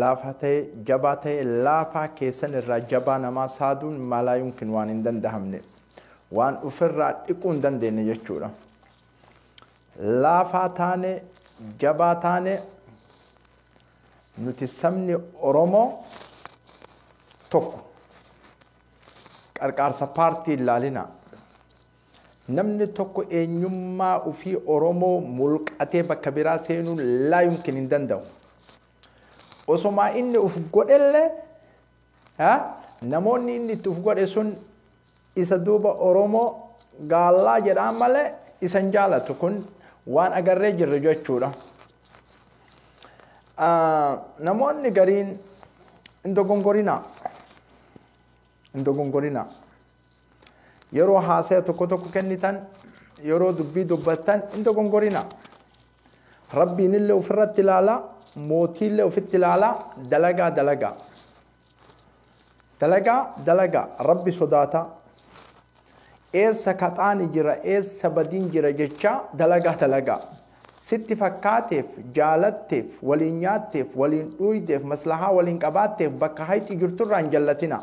Laafaa ta'e, jabaa ta'e, laafaa keessan irraa jabaa namaa saaduun maalaayumkin waan hin dandahamne. Waan ufirraa dhiquu hin dandeenye jechuudha. Laafaa taane, jabaa taane, nuti sabni Oromoo tokko. Qarqaarsa paartii hin laalinaa. Namni tokko eenyummaa ufii Oromoo mulqatee bakka biraa seenuun laa yumkin hin danda'u. Osomaa inni uf godhellee ha namoonni inni itti uf godhe sun isa duuba Oromoo gaallaa jedhaan malee isa hin jaalatu kun waan agarree jirru jechuudha. Namoonni gariin hin dogongorinaa. Hin dogongorinaa. Yeroo haasaya tokko tokko kennitan, yeroo dubbii dubbattan hin dogongorinaa. Rabbiinillee ofirratti ilaala, mootiillee ofitti ilaala, dalagaa dalagaa. Dalagaa dalagaa, Rabbi sodaataa. Eessa kaxaani jira, eessa badiin jira jechaa dalagaa dalagaa. Sitti fakkaateef, jaalatteef, waliin nyaatteef, waliin dhuuydeef, maslahaa waliin qabaatteef bakka hayxi jirturraa hin jallatinaa.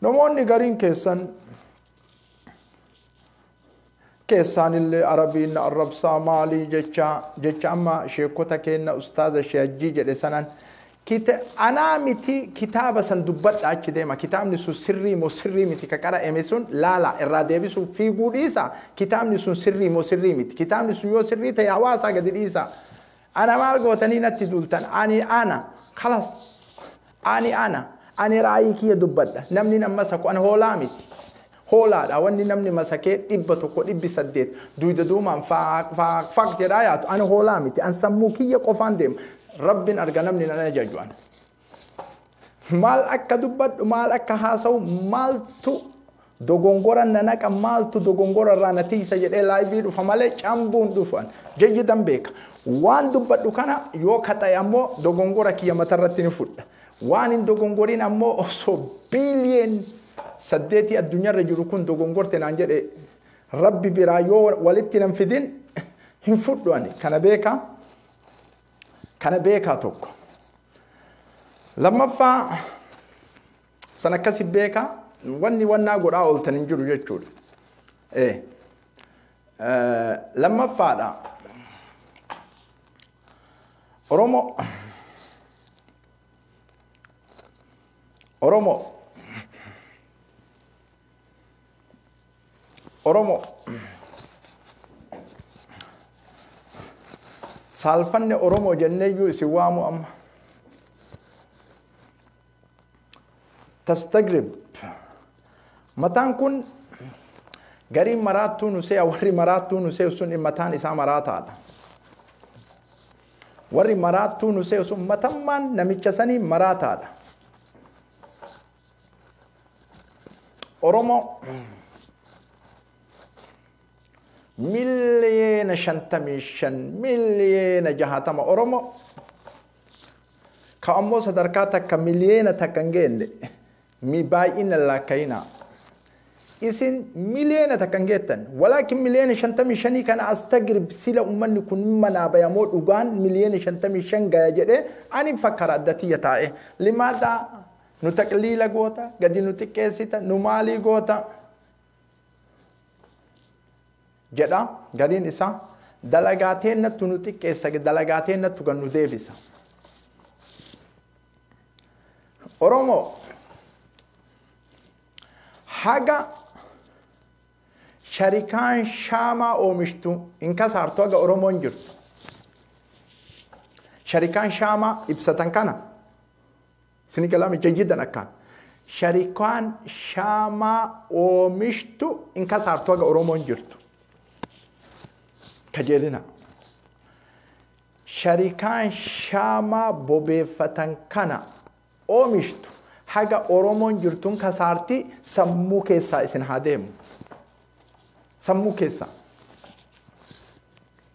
Namoonni gariin keessan keessaanillee arabiin na arrabsaa maalii jecha jecha amma sheekota keenna ustaaza sheejjii jedhe sanan kita anaa miti kitaaba san dubbadha achi deema kitaabni sun sirrii moo sirrii miti ka qara'ame sun laala irraa deebisuuf fiiguu dhiisa kitaabni sun sirrii moo sirrii miti kitaabni sun yoo sirrii ta'e hawaasaa gadi dhiisa Ana maal gootanii natti duultan ani ana kalas ani ana ani raayii kiyya dubbadha namni nan masaku an hoolaa miti hoolaadha wanni namni masakee dhibba tokko dhibbi saddeet duyda duumaan faaq faaq faaq jedhaa yaatu ani hoolaa miti an sammuu kiyya qofaan deema rabbin arga namni nan ajaju an Maal akka dubbadhu, maal akka haasa'u, maaltu dogongora na naqa, maaltu dogongora irraa na tiisa jedhee laayivii dhufa malee cambuun dhufan. Jayyidan beeka. Waan dubbadhu kana yoo kaxa'e ammoo dogongora kiyya matarratti ni fudha. Waan hin dogongorin ammoo osoo biiliyeen saddeetii addunyaarra jiru kun dogongorte naan jedhe rabbi biraa yoo walitti nan fidin hin fudhu ani kana beeka. Kana beekaa tokko. Lammaffaa san akkasi beekaa wanni wannaa godhaa ooltan hin jiru jechuudha. Ee. Lammaffaadha. Oromoo Oromoo Oromo saalfanne Oromo jenneeyyuu isin waamu amma. Tastagrib mataan kun gariin maraattuu nu se'a warri maraattuu nu se'u sun mataan isaa maraataadha. Warri maraattuu nu se'u sun matammaan namicha sanii maraataadha. Oromoo miliyeena shantamii shan miliyeena jahatama Oromoo ka ammoo sadarkaa takka miliyeena takka hin geenne mi baay'ina laakkayinaa isin miliyeena takka hin geettan walaakin miliyeena shantamii shanii kana astagrib sila ummanni kun manaa bayamoo dhugaan miliyeena shantamii shan gaya jedhee ani fakkara adda tiyya taa'e limaadhaa Nu taqliila goota, gadi nu xiqqeessita, nu maalii goota jedha gariin isaa dalagaa teennattu nu xiqqeessa, dalagaa teennattu kan nu deebisa. Oromoo haga sharikaan shaamaa oomishtu hin kasaartu haga Oromoon jirtu. Sharikaan shaamaa ibsatan kana Sini galaa micha jiddan akkaan. Sharikaan shaamaa oomishtu hin kasaartu haga Oromoon jirtu. Kajeelina. Sharikaan shaamaa bobeeffatan kana oomishtu haga Oromoon jirtu hin kasaarti sammuu keessaa isin haa deemu. Sammuu keessaa.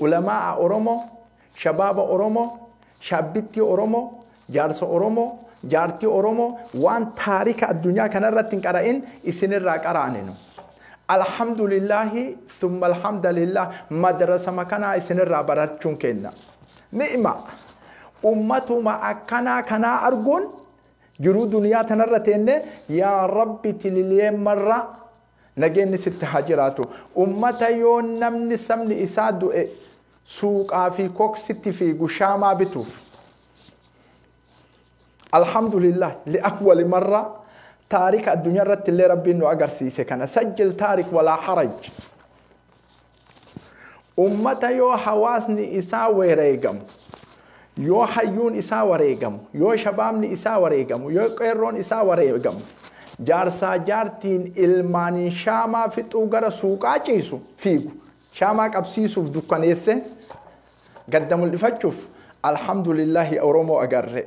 Ulamaa'a Oromoo, Shabaaba Oromoo, Shaabbittii Oromoo, Jaarsa Oromoo, Jaartii Oromoo waan taarika addunyaa kana irratti hin qara'in isin irraa qaraane nu. Alhamdulillaahii thumma alhamdalillaah madrasama kanaa isin irraa barachuun keenna. Ni'ima! Ummatuma akkanaa kanaa arguun jiruu duniyaa tanarra teennee yaa Rabbi tililiyeemmarraa Nageenni sitti haa jiraatu. Ummata yoo namni sabni isaa du'e suuqaa fi koksitti fiigu shaamaa bituuf. Alhamdulillah li'awwali marra taarika addunyaa irratti illee rabbiin nu agarsiise kana sajjil taarik walaa haraj. Ummata yoo hawaasni isaa wereegamu, yoo hayyuun isaa wareegamu, yoo shabaabni isaa wareegamu, yoo qeerroon isaa wareegamu, jaarsaa jaartiin ilmaaniin shaamaa fixuu gara suuqaa ciisu fiigu, shaamaa qabsiisuuf dukkaneessee gadda mul'ifachuuf alhamdulillaahi Oromoo agarre.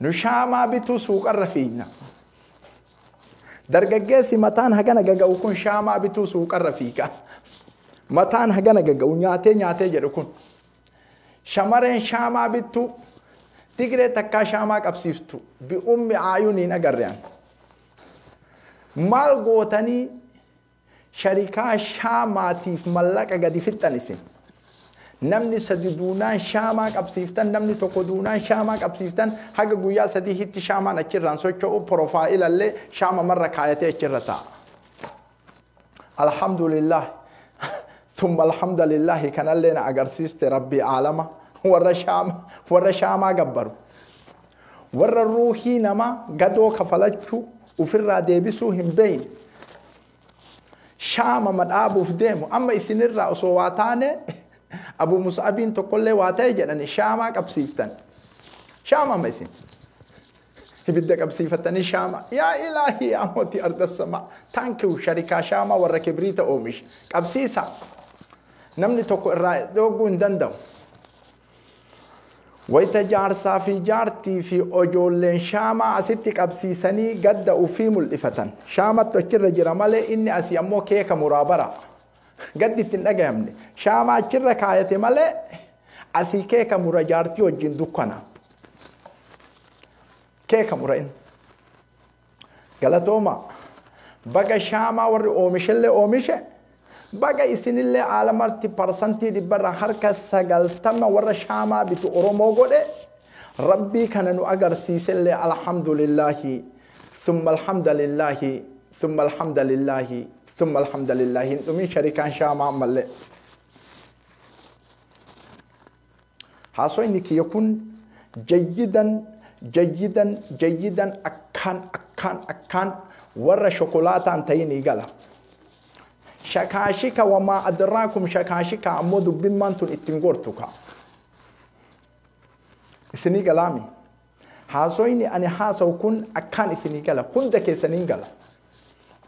Nu shaamaa bituu suuqarra fiigna. Dargaggeessi mataan hagana gaga'u kun shaamaa bituu suuqarra fiiga. Mataan hagana gaga'u nyaatee nyaatee jedhu kun. Shamareen shaamaa bittuu Tigree takkaa shaamaa qabsiiftu bi'ummi aayuun hin agarrean. Maal gootanii Sharikaa shaamaa tiif mallaqa gadi fixxan isin. Namni sadi duunaan shaamaa qabsiiftan namni tokko duunaan shaamaa qabsiiftan haga guyyaa sadii hitti shaamaan achi irraan socho'u porofaayila illee shaama marra kaayatee achi irra taa'a. Alhamdulillah thumma alhamdulillah kanallee na agarsiiste rabbii aalama warra shaama warra shaamaa gabbaru. Warra ruuhii namaa gadoo kafalachuu ufirraa deebisuu hin beeyne shaamama dhaabuuf deemu amma isinirraa osoo waa taanee Abu Mus'abiin tokkollee waa ta'e jedhanii shaamaa qabsiiftan shaamama isin ibidda qabsiifatanii shaama yaa ilaahii yaa mootii ardassamaa taankiw sharikaa shaamaa warra kibriita oomisha qabsiisaa namni tokko irraa dhooguu hin danda'u Wayita jaarsaa fi jaartii fi ojoolleen shaamaa asitti qabsiisanii gadda ufii mul'ifatan. Shaamattu achirra jira malee inni asii ammoo keeka muraa bara. Gaddi itti hin dhagayamne. Shaamaa achirra kaayate malee asii keeka mura jaartii wajjin dukkana. Keeka mura inni. Galatooma. Baga shaamaa warri oomishellee oomishe, baga isinillee haala marti parsantii dhibba irraa harka 90 warra shaamaa bitu Oromoo godhe, Rabbii kana nu agarsiisellee Alhamdulillaahi, Summa Alhamdalillaahi, Summa Alhamdalillaahi, Summa Alhamdalillaahi hin dhumin sharikaan shaamaa ammallee. Haasofni kiyya kun jayyidan jayyidan jayyidan akkaan akkaan akkaan warra shokolaataan ta'inii gala. Shakaashika wamaa adraakum shakaashika ammoo dubbimmaan tun ittiin gortu kaa. Isinii galaami. Haasofni ani haasawu kun akkaan isinii gala. Hunda keessaniin gala.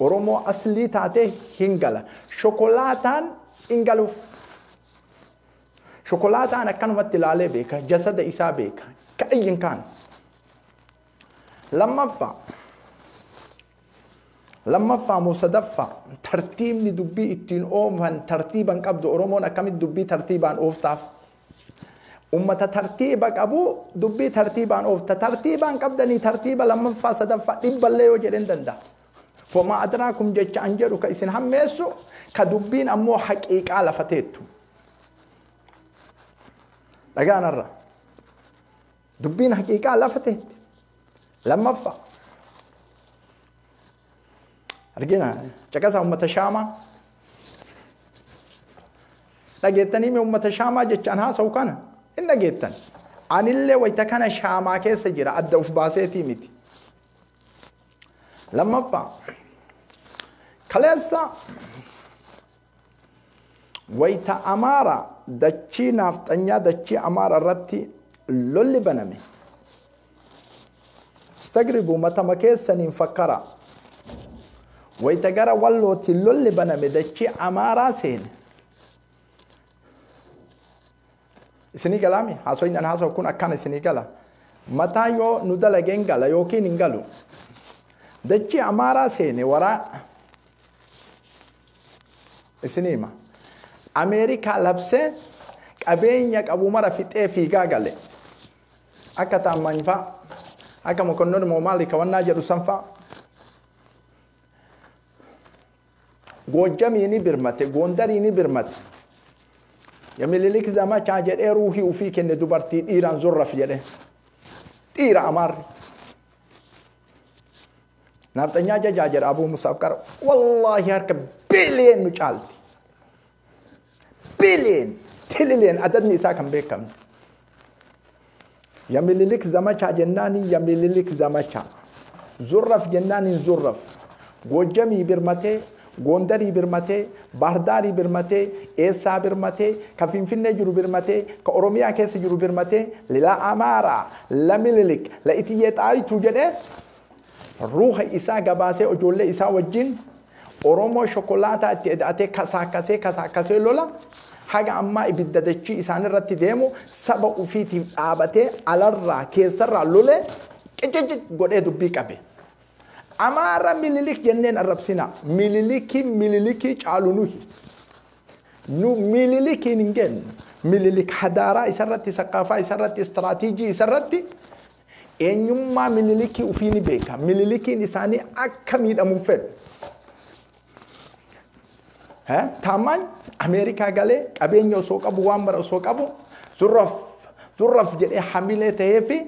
Oromoo aslii taatee hin gala. Shokolaataan hin galuuf. Shokolaataan akkanumatti ilaalee beeka, jasada isaa beeka. Ka'ayyin kaan. Lammaffaa. Lammaffaa moo sadaffaa tartiibni dubbii ittiin oofan tartiiba hin qabdu Oromoon akkamitti dubbii tartiibaan ooftaaf? Uummata tartiiba qabu dubbii tartiibaan oofta. Tartiibaan qabdanii tartiiba lammaffaa sadaffaa dhibballee yoo jedheen danda'a. Fomaa adiraa kum jecha an jedhu ka isin hammeessu ka dubbiin ammoo haqiiqaa lafa teettu. Dhagaan har'a. Dubbiin haqiiqaa lafa teetti. Lammaffaa. Argina caqasaa uummata shaamaa. Dhageettanii mee uummata shaamaa jechaan haasa'u kana hin dhageettan. Anillee wayita kana shaamaa keessa jira adda of baaseetii miti. Lammaffaa. Kaleessa Wayita Amaara dachii naafxanyaa dachii Amaara irratti lolli baname stagribu matama keessaniin fakkara. Wayita gara Wallootti lolli baname dachii Amaaraa seene. Isinii galaami haasofni an haasawu kun akkaan isinii gala. Mataa yoo nu dalageen gala yookiin hin galu. Dachii Amaaraa seene waraa Isin hima. Ameerikaa labsee qabeenya qabu mara fixee fiigaa gale. Akka taammaany faa, akka mokonnon moo maali kawannaa jedhu san faa. Goojjamii ni birmate, goondarii ni birmate. Ya mililik zamachaa jedhee ruuhii ufii kenne dubartii dhiiraan zorraf jedhee. Dhiira amaarri. Naafxanyaa jajaa jedha Abuu Musaaf qara. Wallaahi harka biiliyeen nu caalti. Biiliyeen, tililiyeen adadni isaa kan beekamne. Ya mililik zamachaa jennaaniin ya mililik zamachaa. Zurraf jennaaniin zurraf. Goojjamii birmatee, Goondarii birmatee, Baardaarii birmatee, eessaa birmatee, ka Finfinnee jiru birmatee, ka Oromiyaa keessa jiru birmatee, lila Amaaraa, la Mililik, la Itiyyee Xaayituu jedhee Ruuha isaa gabaasee ijoollee isaa wajjin Oromoo shokolaataa itti eda'atee kasaakkasee kasaakkasee lola haga ammaa ibidda dachii isaanirratti deemu saba ufiitiif dhaabatee alarraa keessarraa lolee qicicit godhee dubbii qabe. Amaara mililik jenneen arrabsinaa. Mililikii mililikii caalu nuyi. Nu mililikiin hin geennu. Mililik hadaaraa isarratti, saqaafaa isarratti, istiraatiijii isarratti Eenyummaa Minilikii ufii ni beeka. Minilikiin isaanii akka miidhamu hin fedhu. Eh, Taammaan Ameerikaa galee qabeenya osoo qabu waan mara osoo qabu zurraf zurraf jedhee hamilee ta'ee fi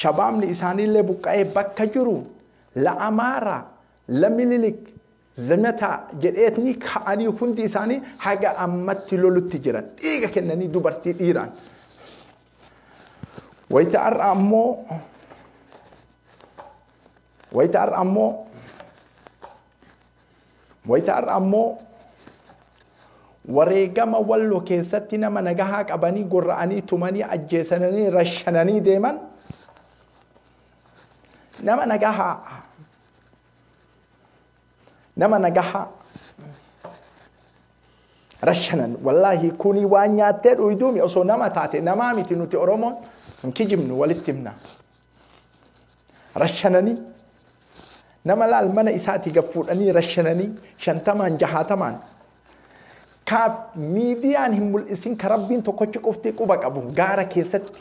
shabaabni isaaniillee buqqa'ee bakka jiru la Amaaraa la Minilik zamataa jedheetni ka'anii hundi isaanii haga ammatti lolutti jiran dhiiga kennanii dubartii dhiiraan. Wayita har'a ammoo wayita har'a ammoo wayita har'a ammoo wareegama wallo keessatti nama nagahaa qabanii gorra'anii tumanii ajjeesananii rashananii deeman nama nagahaa nama nagahaa rashanan wallaahi kuni waan nyaattee dhuyduumi osoo nama taate namaa miti nuti oromoon hin kijibnu walitti himna rashananii nama laal mana isaati gad fuudhanii rashananii shantamaan jahaatamaan kaaf miidiyaan hin mul'isin ka rabbiin tokkochi qofti quba qabu gaara keessatti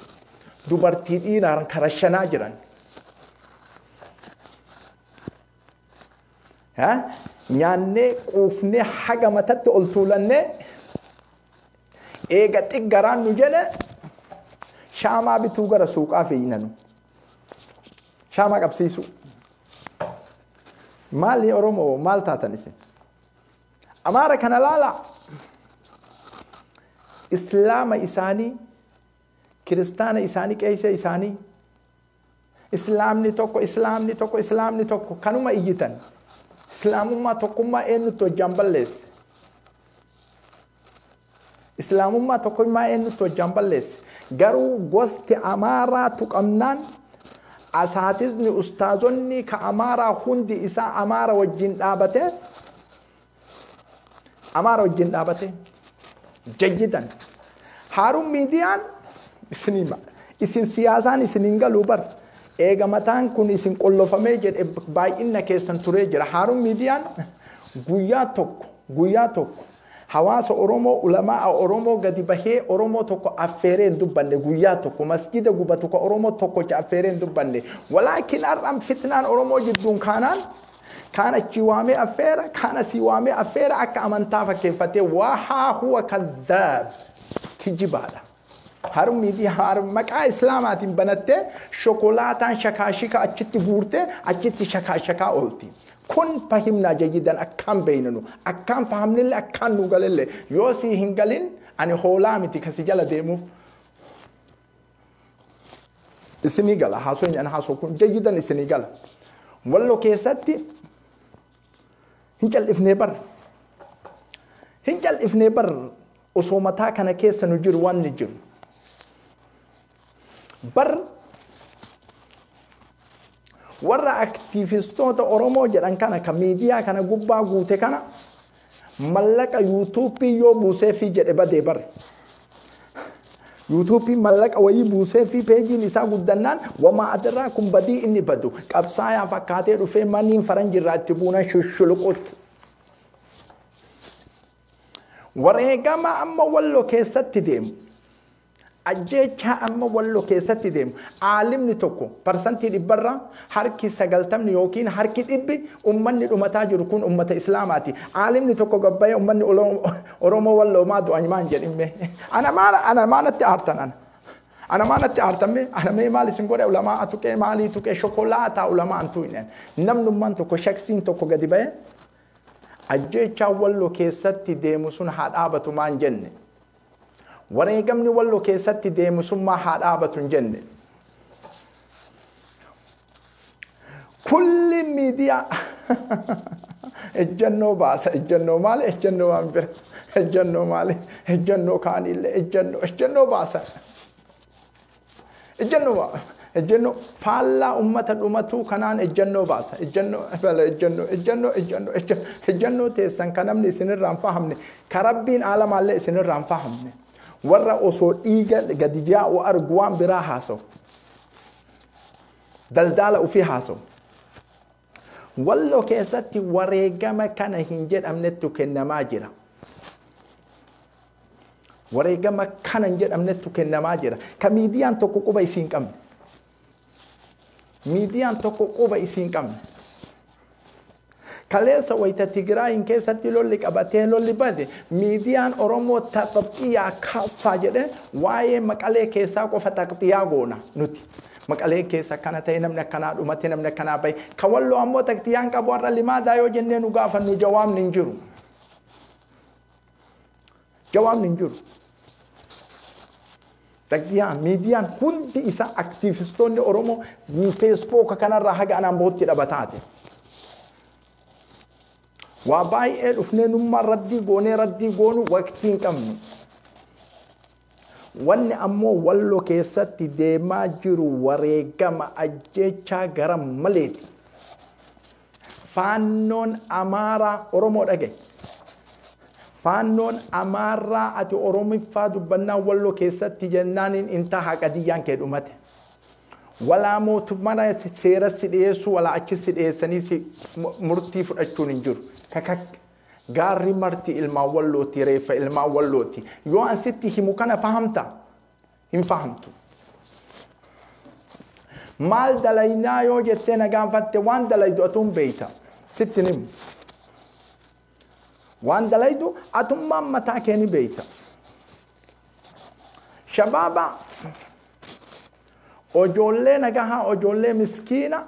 dubartii dhiiraan ka rashanaa jiran Nyaannee quufnee haga matatti ol tuulannee eega xiggaraan nu jele shaamaa bituu gara suuqaa fiignanu. Shaamaa qabsiisuu. Maali Oromoo maal taatan isin? Amaara kana laalaa. Islaama isaanii, kiristaana isaanii, qeesee isaanii Islaamni tokko, Islaamni tokko, Islaamni tokko kanuma iyyitan. Islaamummaa tokkummaa eenyutti hojjaan balleesse? Islaamummaa tokkummaa eenyutti hojjaan balleesse? Garuu gosti Amaaraa tuqamnaan asaatizni ustaazonni ka Amaaraa hundi isaa Amaara wajjin dhaabatee Amaara wajjin dhaabate jayyidan. Haaruun miidiyaan isinii ma- isin siyaasaan isin hin galuu bar. Eega mataan kun isin qollofamee jedhe baay'inna keessan turee jira. Haaruun miidiyaan guyyaa tokko guyyaa tokko hawaasa Oromoo ulamaa Oromoo gadi bahee Oromoo tokko affeeree hin dubbanne guyyaa tokko masjida gubatu ka Oromoo tokkocha affeeree hin dubbanne. Walaakin har'aan fitnaan Oromoo jidduun kaanaan Kaan achii waamee affeera, kaan asii waamee affeera akka amantaa fakkeeffatee wahaa huwa kadhaab kijibaadha. Harmii fi haar maqaa islaamaatiin banattee shokolaataan shakaashika achitti guurtee achitti shakaashakaa oolti. Kun fahimnaa jayyidan akkaan beeynanu akkaan fahamnille akkaan nuu galelle yoo sii hin galin ani hoolaa miti kasi jala deemuuf. isinii gala haasofni an haasoo kun jayyidan isinii gala wallo keessatti hin cal'ifnee bar hin cal'ifnee bar osoo mataa kana keessa nu jiru waan ni jiru bar warra aktiivistoota Oromoo jedhan kana ka miidiyaa kana gubbaa guute kana Mallaqa yuutuuppiin yoo buuseefii jedhe badee bar. Yuutuuppiin mallaqa wayii buuseefii peejiin isaa guddannaan wamaa adaraa kun badii inni badu qabsaayaa fakkaatee dhufee maniin faranji irraa itti buunan shushuluqut. Wareegama amma wallo keessatti deemu Ajjeechaa amma Wallo keessatti deemu aalimni tokko parsantii dhibbarraa harki sagaltamni ykn harki dhibbi ummanni dhumataa jiru kun ummata Islaamaati. Aalimni tokko gad bahee ummanni Oromoo Walloo maa du'an maa hin jedhin mee. Ana maa ana maa natti aartan ana. Ana maa natti aartan mee ana mee maal isin godhe ulamaa'a tuqee maalii tuqee shokolaataa ulamaan tuqne. Namnummaan tokko shaksiin tokko gadi bahee ajjeechaa Walloo keessatti deemu sun haa dhaabatu maa hin jenne. Wareegamni Wallo keessatti deemusummaa haa dhaabatu hin jenne. Kulli miidiyaa ejjannoo baasa ejjannoo maali ejjannoo waan bira ejjannoo maali ejjannoo kaaniillee ejjannoo ejjannoo baasa. Ejjennoo ejjennoo faallaa ummata dhumatuu kanaan ejjennoo baasa. Ejjennoo bala ejjennoo ejjennoo ejjennoo ejjennoo ejjennoo teessan kan namni isinirraa hin fahamne ka rabbiin aalamaallee isinirraa hin fahamne warra osoo dhiiga gadi jaa'u argu waan biraa haasawu. Daldaala ofii haasawu. Walloo keessatti wareegama kana hin jedhamnettu kennamaa jira. Wareegama kana hin jedhamnettu kennamaa jira. Ka miidiyaan tokko quba isii hin qabne. Miidiyaan tokko quba isii hin qabne. Kaleessa wayita Tigraayiin keessatti lolli qabatee lolli bade miidiyaan Oromoo taqxiyaa kaasaa jedhee waa'ee maqalee keessaa qofa taqxiyaa goona nuti. Maqaleen keessa akkana ta'e, namni akkanaa dhumate, namni akkanaa bahe. Ka Walloo ammoo taktiyaan qabu har'a limaadaa yoo jennee nu gaafannu jawaabni hin jiru. Jawaabni hin jiru. Taktiyaa miidiyaan hundi isaa aktiivistoonni Oromoo feesbooka kanarraa haga anaan bahutti dhabataate. Waa baay'ee dhufnee nummaan raddii goonee raddii goonu waqtii hin qabnu. Wanni ammoo Wallo keessatti deemaa jiru wareegama ajjeechaa gara maleeti. Faannoon Amaaraa Oromoo dhaga'i. Faannoon Amaarraa ati Oromiffaa dubbannaan Wallo keessatti jennaaniin hin taha qadiyyaan kee dhumate. Walaa mootummaa seeras si dhiyeessuu walaa achis si dhiyeessanii si murtii fudhachuun hin jiru. Kakak Gaarri marti ilmaan Wallootti, reeffa ilmaan Wallootti. Yoo an sitti himu kana fahamta? Hin fahamtu. Maal dalaynaa yoo jettee na gaafatte waan dalaydu atuun beeyta. Sitti himu. Waan dalaydu atummaan mataa kee ni beeyta. Shabaaba ojoollee nagahaa ojoollee miskiina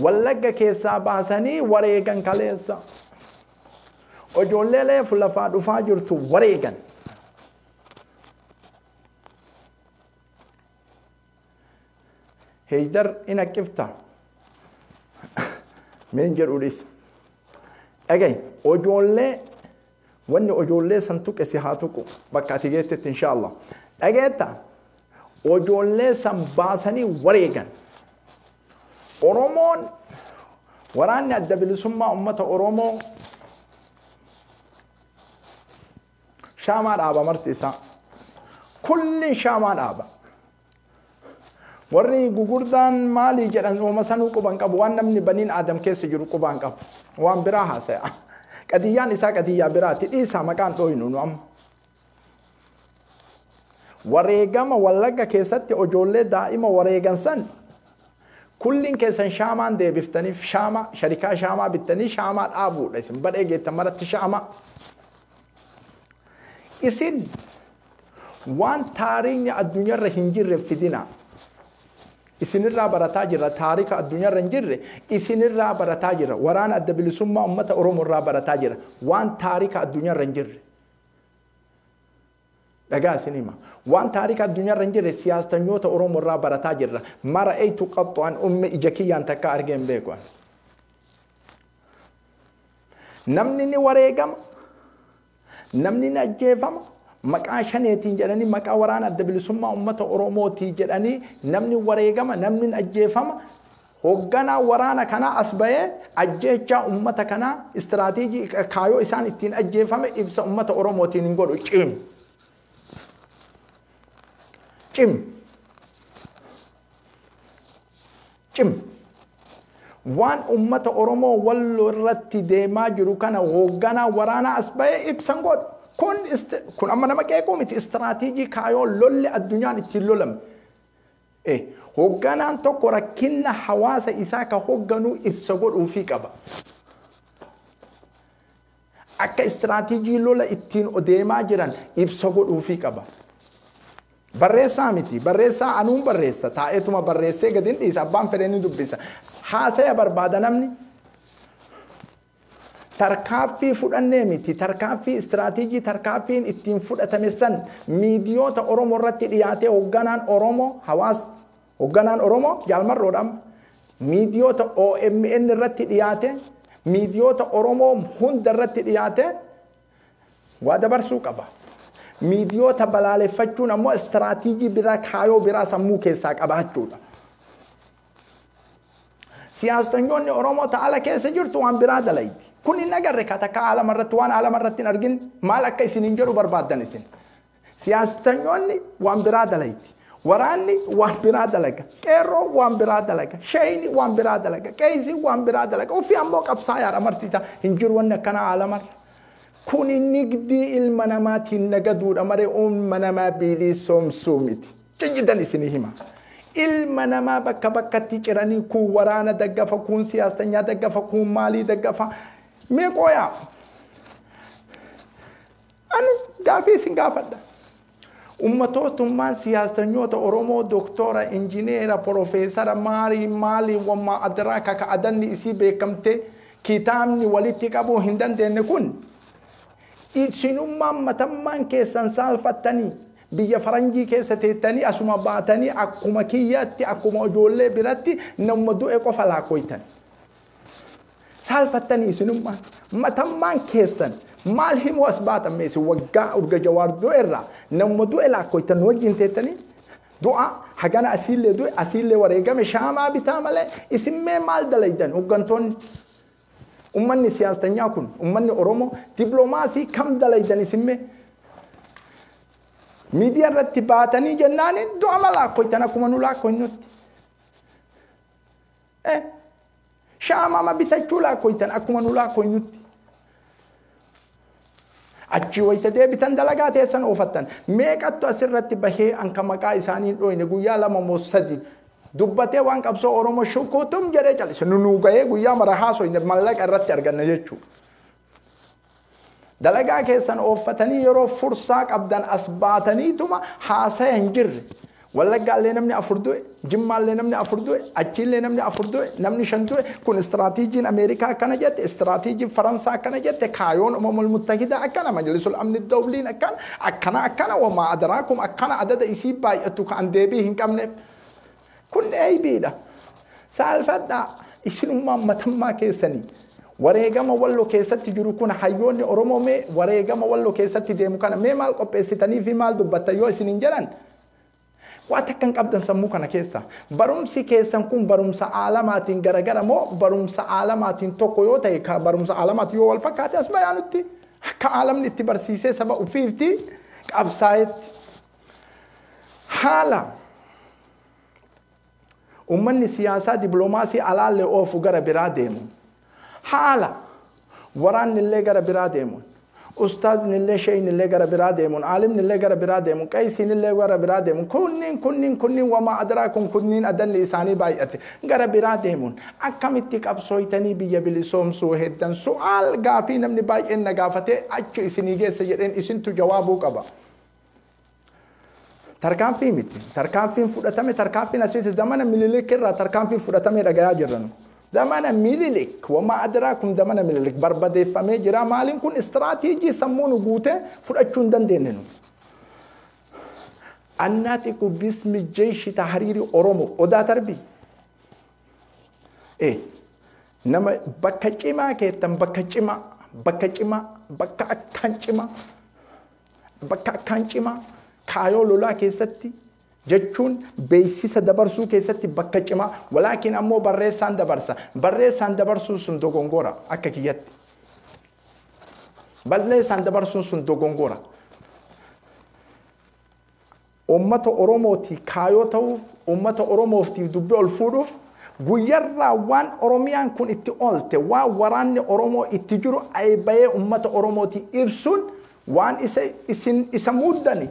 Wallagga keessaa baasanii wareegan kaleessa. Ijoollee reefu lafaa dhufaa jirtu wareegan. Heeydar in haqqifta. Meen jedhuudhis. Dhagahi ijoollee Wanni ojoollee san tuqe si haa tuqu bakka ati geettetti inshaa Allah. Dhageetta ojoollee san baasanii wareegan. Oromoon waraanni adda bilisummaa ummata Oromoo shaamaa dhaaba marti isaa. Kullin shaamaa dhaaba. Warri gugurdaan maalii jedhan hooma sanuu quban qabu waan namni baniin aadam keessa jiru qubaan qabu. Waan biraa haasaya. Qadiyyaan isaa qadiyyaa biraati dhiisaa maqaan dhooynu nu amma. Wareegama wallagga keessatti ijoollee daa'ima wareegan san kulliin keessan shaamaan deebiftaniif shaamaa sharikaa shaamaa bittanii shaamaa dhaabuudha isin badhee geettan maratti shaamaa. Isin Waan taariikni addunyarra hin jirre fidina. Isinirraa barataa jirra taarika addunyarra hin jirre isinirraa barataa jirra. Waraana adda bilisummaa uummata Oromoo irraa barataa jirra. Waan taarika addunyarra hin jirre. Dhagaa isin hima. Waan taarika addunyarra hin jirre siyaastanyoota Oromoo irraa barataa jirra. Mara eeytu qaxxu an umme ija kiyyaan takka argee hin beeku. Namni ni wareegama. Namni ni ajjeefama, maqaa Shaneetiin jedhanii, maqaa waraana Adda Bilisummaa Uummata Oromootii jedhanii namni wareegama, namni ni ajjeefama. Hogganaa waraana kanaa as bahee ajjeechaa uummata kanaa istiraateejii kaayoo isaan ittiin ajjeefame ibsa uummata Oromootiin hin godhu. Cim! Cim! Cim. Waan ummata Oromoo Wallo irratti deemaa jiru kana hoogganaa waraanaa as bahee ibsa hin godhu. Kun, kun amma nama qeequu miti istiraatiijii kaayoo lolli addunyaan ittiin lolame. E. Hoogganaan tokko rakkinna hawaasa isaa ka hoogganuu ibsa godhuufii qaba. Akka istiraatiijii lola ittiin odeemaa jiran ibsa godhuufii qaba. Barreessaa miti. Barreessaa anuun barreessa. Taa'eetuma barreessee gadi hin dhiisa. Abbaan fedhe ni dubbisa. Haasaya barbaada namni. Tarkaaffii fudhannee miti. Tarkaaffii istiraatiijii tarkaaffiin ittiin fudhatame san miidiyoota Oromoo irratti dhiyaatee hoogganaan Oromoo hawaas Hogganaan Oromoo Jaal Marroodha amma miidiyoota omn irratti dhiyaate miidiyoota Oromoo hunda irratti dhiyaate waa dabarsuu qaba. Miidiyoota balaaleffachuun ammoo istiraatiijii biraa kaayoo biraa sammuu keessaa qabaachuudha. Siyaastanyoonni Oromoo ta ala keessa jirtu waan biraa dalaydi. Kun hin agarre ka takka alama irratti waan alama irratti hin argin maal akka isin hin jedhu barbaaddan isin. Siyaasittanyoonni waan biraa dalayti. Waraanni waan biraa dalaga. Qeerroon waan biraa dalaga. Sheeyni waan biraa dalaga. Qeeysiin waan biraa dalaga. Uffi ammoo qabsaayaadha marti isaa. Hin jiru wanni akkanaa aalamarra. Kuni nigdii ilma namaatiin nagaduudha malee ilma namaa biiliisoomsuu miti. Kijjidan isinii hima. Ilma namaa bakka bakkatti ciranii kuun waraana daggafa, kuun siyaastanyaa daggafa, kuun maalii daggafa. Mee qooyaa. Ani gaafii isin gaafadha. Ummatootummaan siyaastanyoota Oromoo doktora, injineera, porofeesara, maarii, maalii, wammaa adraa kaka adanni isii beekamtee kitaabni walitti qabuu hin dandeenne kun isinummaan matammaan keessan saalfattanii biyya faranjii keessa teettanii asuma baatanii akkuma kiyyaatti akkuma ijoollee biratti namuma du'e qofa laakkoytan. Saalfattanii isinummaan matammaan keessan maal himuu as baatan mee isin waggaa urga jawaar du'e irraa namuma du'e laakkoytan nu wajjin teettanii du'a hagana asiillee du'e asiillee wareegame shaamaa bitaa malee isin mee maal dalaydan hoggantoonni ummanni siyaastanyaa kun ummanni oromoo diplomaasii kam dalaydan isin mee miidiyaa irratti baatanii jennaaniin du'a ma laakkoytan akkuma nu laakkoynutti Eh! Shaama ma bitachuu laakkoytan akkuma nu laakkoynutti. Achii wayta deebitan dalagaa teessan oofattan. Meeqattu asirratti bahee an ka maqaa isaanii hin dhooyne guyyaa lama moo sadi dubbatee waan qabsoo Oromoo shukuutum jedhee cal'ise. Nu nuu gahee guyyaa mara haasoyne mallaqa irratti arganna jechuu. Dalagaa keessan ooffatanii yeroo fursaa qabdan as baataniituma haasaya hin jirre. Wallaggaallee namni afur du'e, Jimmaallee namni afur du'e, achiillee namni afur du'e, namni shan du'e. Kun istiraatiijiin Ameerikaa akkana jette, istiraatiijiin Faransaa akkana jette, kaayoon Umamul Muttahidaa akkana, Majlisul Amni Dawliin akkana, akkana akkana wamaa adaraakum akkana adada isii baay'attu ka an deebii hin qabneef. Kun eybiidha. Saalfadhaa. Isinummaan matammaa keessanii. Wareegama wallo keessatti jiru kun hayyoonni Oromoo mee wareegama wallo keessatti deemu kana mee maal qopheessitanii fi maal dubbattan yoo isiniin jedhan waa takka hin qabdan sammuu kana keessa. Barumsi keessan kun barumsa aalamaatiin garagara moo barumsa aalamaatiin tokko yoo ta'e ka barumsa aalamaatiin yoo wal fakkaate as bayaa nutti akka aalamni itti barsiisee saba ofiifti qabsaa'etti. Haala ummanni siyaasaa dipiloomaasii alaallee oofu gara biraa deemuun haala waraanni illee gara biraa deemuun ustaazni illee sheeyni illee gara biraa deemuun aalimni illee gara biraa deemuun qaysiin illee gara biraa deemuun kunniin kunniin kunniin wamaa adraa kun kunniin adanni isaanii baay'ate gara biraa deemuun akkamitti qabsooytanii biyya bilisoomsuu heddan su'aal gaafii namni baay'een na gaafatee achi isinii geessa jedheen isintu jawaabuu qaba. Tarkaanfii miti. Tarkaanfiin fudhatame tarkaanfiin asiiti zamana mililik irraa tarkaanfiin fudhatamee dhagayaa jirra nu. Zamana mililik wamaa adiraa kun zamana mililik barbadeeffamee jira maaliin kun istiraateejii sammuu nu guutee fudhachuu hin dandeenye nu. Annaati ku bismi jeeshi tahariiri Oromo odaa tarbii. Ee nama bakka cimaa keettan bakka cimaa bakka cimaa bakka akkaan cimaa. Bakka akkaan cimaa kaayoo lolaa keessatti jechuun beeksisa dabarsuu keessatti bakka cimaa walaakin ammoo barreessaan dabarsa. Barreessaan dabarsuun sun dogongora akka kiyyatti. Barreessaan dabarsuun sun dogongora. Uummata Oromootii kaayoo ta'uuf, uummata Oromooftiif dubbi ol fuudhuuf, guyyarraa waan Oromiyaan kun itti oolte, waan waraanni Oromoo itti jiru ayi bayee uummata Oromootii ibsuun waan isa isin isa muuddani,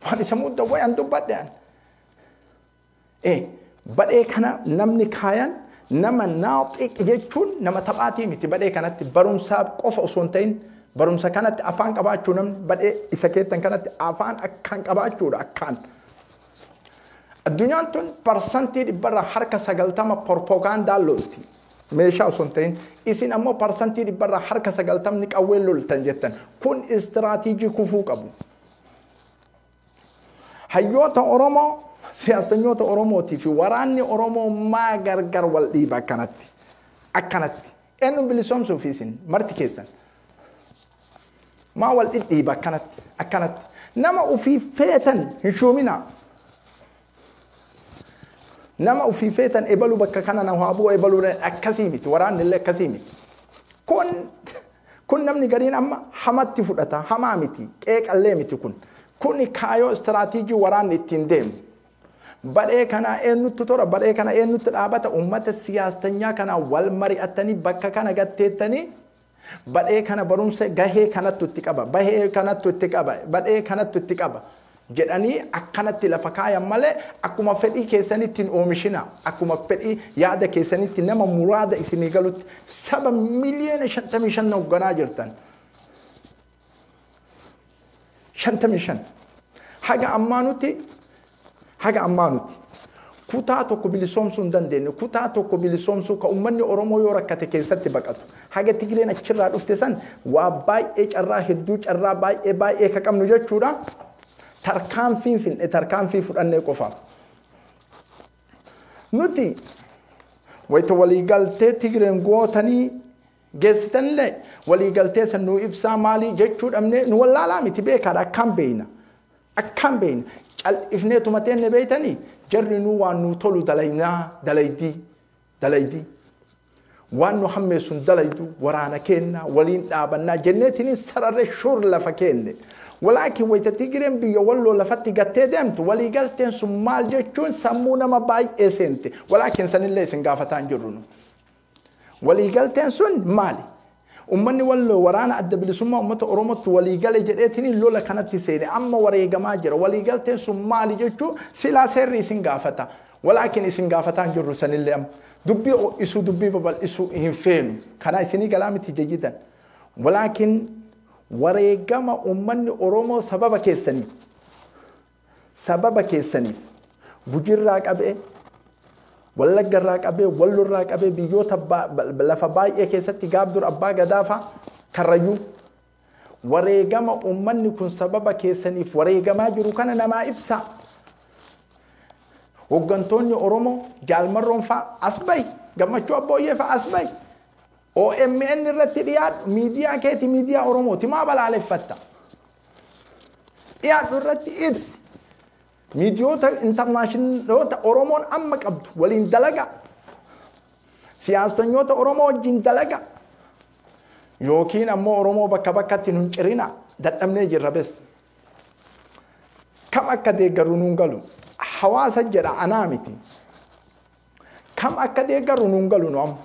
waan isa muuddan wayi an dubbadhe an. e. Badhee kana namni kaayan nama naaxiq jechuun nama taphaatii miti badhee kanatti barumsaaf qofa osoo hin ta'in barumsa kanatti afaan qabaachuu namni badhee isa keettan kanatti afaan akkaan qabaachuudha akkaan. Addunyaan tun parsantii dhibbarraa harka sagaltama porpogaandaan lolti. Meeshaa osoo hin ta'in isin ammoo parsantii dhibbarraa harka sagaltamni qawween loltan jettan kun istiraatiijii kufuu qabu. Hayyoota Oromoo, siyaastanyoota Oromootii fi waraanni Oromoo maa gargar wal dhiiba akkanatti? Akkanatti. Eenyuun bilisoomsuuf isin marti keessan? Maa wal dhidhiiba akkanatti? Akkanatti. Nama ofii feetan hin shuuminaa. Nama ofii feetan ebalu bakka kana na haa bu'u ebalu akkasii miti waraanni illee akkasii miti. Kun kun namni gariin amma hamatti fudhata hamaa miti qeeqallee miti kun. Kuni kaayoo istiraatiijii waraanni ittiin deemu. Badhee kanaa eenyutti tora badhee kana eenyutti dhaabata uummata siyaastanyaa kanaa wal mari'attanii bakka kana gatteettanii Badhee kana barumsa gahee kanattu itti qaba, bahee kanattu itti qaba, badhee kanattu itti qaba jedhanii akkanatti lafa kaayan malee akkuma fedhii keessanitti hin oomishinaa. Akkuma fedhii yaada keessanitti nama muraada isinii galutti saba miliyoona 55 hoogganaa jirtan. shantamii shan haga ammaa nuti haga ammaa nuti kutaa tokko bilisoomsuu hin dandeenye kutaa tokko bilisoomsuu ka ummanni oromoo yoo rakkate keessatti baqatu haga tigireen achirraa dhufte san waa baay'ee carraa hedduu carraa baay'ee baay'ee ka qabnu jechuudha tarkaanfiin finne tarkaanfii fudhannee qofaaf nuti wayita waliigaltee tigireen gootanii geessitanillee waliigaltee san nuu ibsaa maalii jechuu dhabnee nu wallaalaa miti beekaadha akkaan beeyna akkaan beeyna cal'ifnee tuma teenne beeytanii jarri nuu waan nuu tolu dalaynaa dalaydii dalaydii waan nu hammeessun dalaydu waraana keennaa waliin dhaabannaa jenneetiniin sararre shuur lafa keenne walaakin wayta tigireen biyya walloo lafatti gattee deemtu waliigalteen sun maal jechuun sammuu nama baay'ee seente walaakin sanillee isin gaafataan jirru nu Waliigalteen sun maali? Ummanni Walloo waraana Adda Bilisummaa Ummata Oromootti walii gale jedheetiniin lola kanatti seene. Amma wareegamaa jira. Waliigalteen sun maali jechuu silaa seerri isin gaafata. Walaakin isin gaafataa hin jirru sanillee amma. Dubbii ho'isuu, dubbii babal'isuu hin feenu. Kanaa isinii galaa miti jajidan. Walaakin wareegama ummanni Oromoo sababa keessaniif Sababa keessaniif Gujirraa qabee, Wallaggarraa qabee, Wallorraa qabee biyyoota lafa baay'ee keessatti Gaabdur Abbaa Gadaafaa Karrayyuu wareegama uummanni kun sababa keessaniif wareegamaa jiru kana namaa ibsaa. Hoggantoonni Oromoo Jaalmarroon faa as bahi, Gammachuu Abbooyyee faa as bahi. OMN irratti dhiyaadhu, miidiyaa keeti, miidiyaa Oromooti maa balaaleffatta? dhiyaatu irratti ibsi miidiyoota intarnaashinaaloota Oromoon amma qabdu waliin dalaga siyaastanyoota Oromoo wajjin dalaga yookiin ammoo Oromoo bakka bakkatti nun cirina dadhabnee jirra bes kam akka deeggaru nuun galu hawaasa jedha anaa miti kam akka deeggaru nuun galu nu amma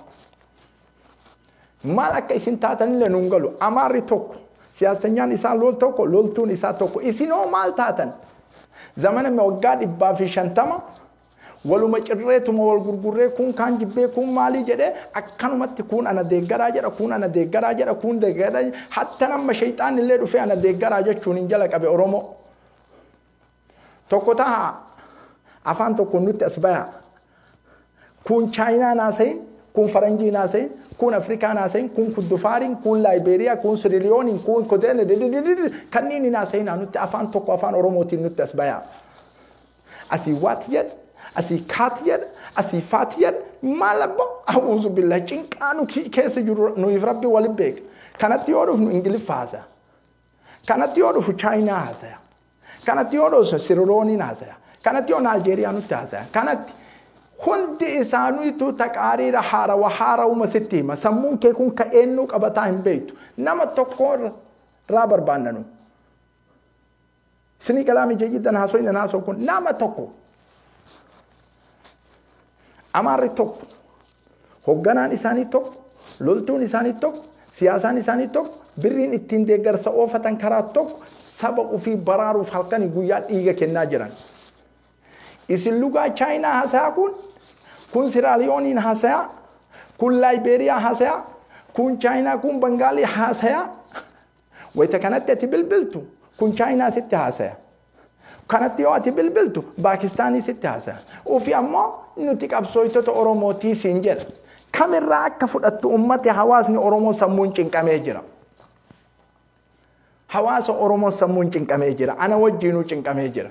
Maal akka isin taatanillee nuun galu. Amaarri tokko, siyaastanyaan isaa lol tokko, loltuun isaa tokko. Isinoo maal taatan? Zamana me waggaa dhibbaa fi shantama waluma cirreetuma wal gurgurree kuun kaan jibbee kuun maalii jedhee akkanumatti kuun ana deeggaraa jedha kuun ana deeggaraa jedha kuun deeggaraa hattan amma shayxaanni illee dhufee ana deeggaraa jechuun hin jalaqabe Oromoo. Tokko tahaa. Afaan tokkoon nutti as bayaa. Kun Chaayinaan haasayin, kun Faranjiin haasayin, kun Afrikaan haasayin, kun Kuddufaariin, kun Laayibeeriyaa, kun Siriliyooniin, kun Koteen, kanneen hin haasayinaa nutti afaan tokko afaan Oromootiin nutti as bayaa. Asii waat jedha, asii kaat jedha, asii faat jedha, maal abbaa? A'uuzu billaa cinqaa nu keessa jiru nuyiif rabbi wali beeka. Kanatti yoo dhufnu Ingiliffa haasa'a. Kanatti yoo dhufu Chaayinaa haasa'a. Kanatti yoo dhoosa Sirirooniin haasaya. Kanatti yoo Naajeeriyaanutti haasaya. Kanatti hundi isaaniitu taqaariira haarawa haarauma sitti hima. Sammuun kee kun ka eennuu qabataa hin beektu. Nama tokko irraa barbaannanu. Sinii galaamii jayyidan haasoyin hin haasoo kun nama tokko. Amaarri tokko. Hogganaan isaanii tokko, loltuun isaanii tokko, siyaasaan isaanii tokko, birriin ittiin deeggarsa oofatan karaa tokko saba ofii baraaruuf halkanii guyyaa dhiiga kennaa jiran. Isin lugaa Chaayinaa hasayaa kun, kun Siraaliyooniin hasayaa, kun Laayibeeriyaa hasayaa, kun Chaayinaa, kun Bangaalii hasayaa. Wayita kanatti ati bilbiltu kun Chaayinaa sitti haasaya. Kanatti yoo ati bilbiltu Paakistaanii sitti haasaya. Ufi ammoo nuti qabsooytota Oromootii siin jedha. Kamirraa akka fudhattu ummati hawaasni Oromoo sammuun cinqamee jira. Hawaasa Oromoo sammuun cinqamee jira. Ana wajjiinuu cinqamee jira.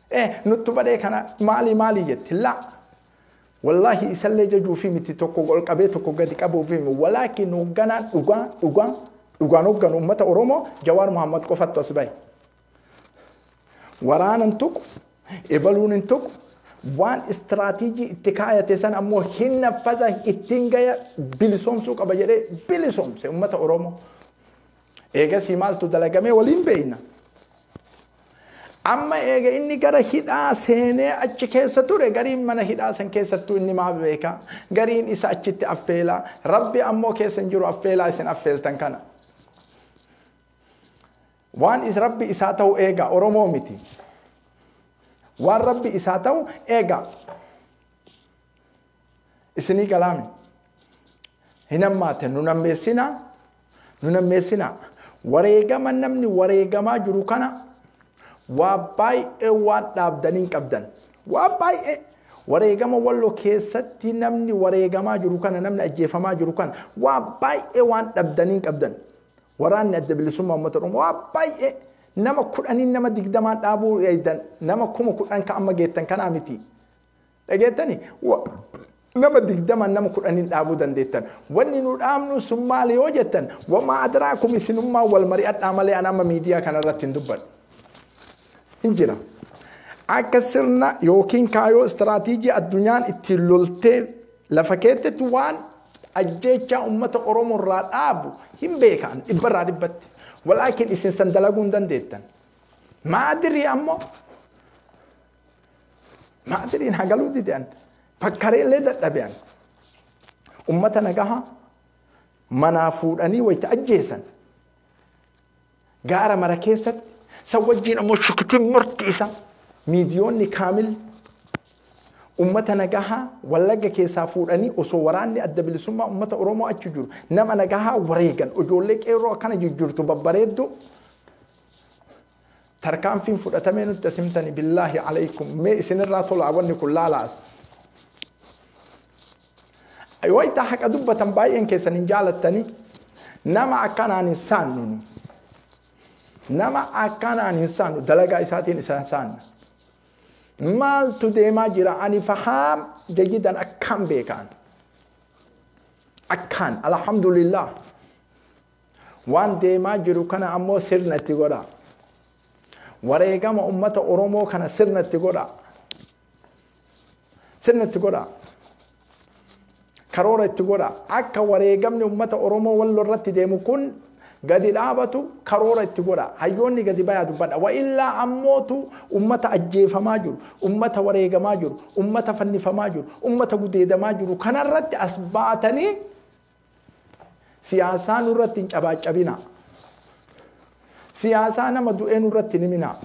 Eh nuttu badee kana maali maali jetti laa Wallahi isallee jajuufi miti tokko ol qabee tokko gadi qabuufi mi walaakin hogganaan dhugaa dhugaa dhugaan hogganu ummata Oromoo Jawaar Muhammad qofattu as bahe. Waraana hin tuqu, ebaluun hin tuqu, waan istiraatiijii itti kaayate san ammoo hin naffaza ittiin gaya bilisoomsuu qaba jedhee bilisoomse ummata Oromoo. Eegasii maaltu dalagamee waliin beeyna. Amma eega inni gara hidhaa seenee achi keessa ture gariin mana hidhaa san keessattuu inni maa beeka gariin isa achitti affeelaa rabbi ammoo keessa hin jiru affeelaa isin affeeltan kana. Waan is rabbi isaa ta'u eega Oromoo miti. Waan rabbi isaa ta'u eega. isinii galaami hin hammaate nu nammeessinaa nu nammeessinaa wareegama namni wareegamaa jiru kana waa baay'ee waan dhaabdanii hin qabdan waa baay'ee wareegama walloo keessatti namni wareegamaa jiru kana namni ajjeefamaa jiru kana waa baay'ee waan dhabdanii hin qabdan waraanni adda bilisummaa uummata oromoo waa baay'ee nama kudhaniin nama digdamaan dhaabuu eeydan nama kuma kudhan ka amma geettan kanaa miti Dhageettani? Wa, nama digdaman nama kudhanin dhaabuu dandeettan. Wanni nu dhaabnu sun maali yoo jettan, wamaa adraakum isinummaan wal mari'adhaa malee an amma miidiyaa kana irratti hin dubbadhu. Hin jira. Akka sirna yookiin kaayoo istiraatiijii addunyaan ittiin loltee lafa keettetti waan ajjeechaa uummata Oromoo irraa dhaabu hin beekan dhibbarraa dhibbatti. Walaakin isin san dalaguu hin dandeettan. Maadirii ammoo Maatiriin hagaluu didan fakkaree illee dadhabean. Ummata nagaha manaa fuudhanii wayita ajjeesan gaara mara keessatti san wajjin ammoo shukitiin morti isa miidiyoonni kaamil ummata nagahaa wallagga keessaa fuudhanii osoo waraanni adda bilisummaa ummata Oromoo achi jiru nama nagahaa wareegan ijoollee qeerroo akkana jijjiirtu babbareeddu Tarkaanfiin fudhatamee nutti as himtani billaahi alaykum mee isinirraa tolaa wanni kun laalaas. Wayita haqa dubbatan baay'een keessan hin jaalattani nama akkanaan hin saannu nu. Nama akkanaan hin saannu dalagaa isaatiin isa saanna. Maaltu deemaa jira ani fahaam jayyidan akkaan beekaan. Akkaan alhamdulillah. Waan deemaa jiru kana ammoo sirna itti godhaa. Wareegama ummata Oromoo kana sirna itti godhaa. Sirna itti godhaa. Karoora itti godhaa. Akka wareegamni ummata Oromoo walloo irratti deemu kun gadi dhaabatu karoora itti godhaa. Hayyoonni gadi bayaa dubbadha. Wa illaa ammootu ummata ajjeefamaa jiru, ummata wareegamaa jiru, ummata fannifamaa jiru, ummata gudeedamaa jiru kanarratti as baatanii Siyaasaa nurratti hin cabaacabinaa. Siyaasaa nama du'ee nurratti hin himinaa.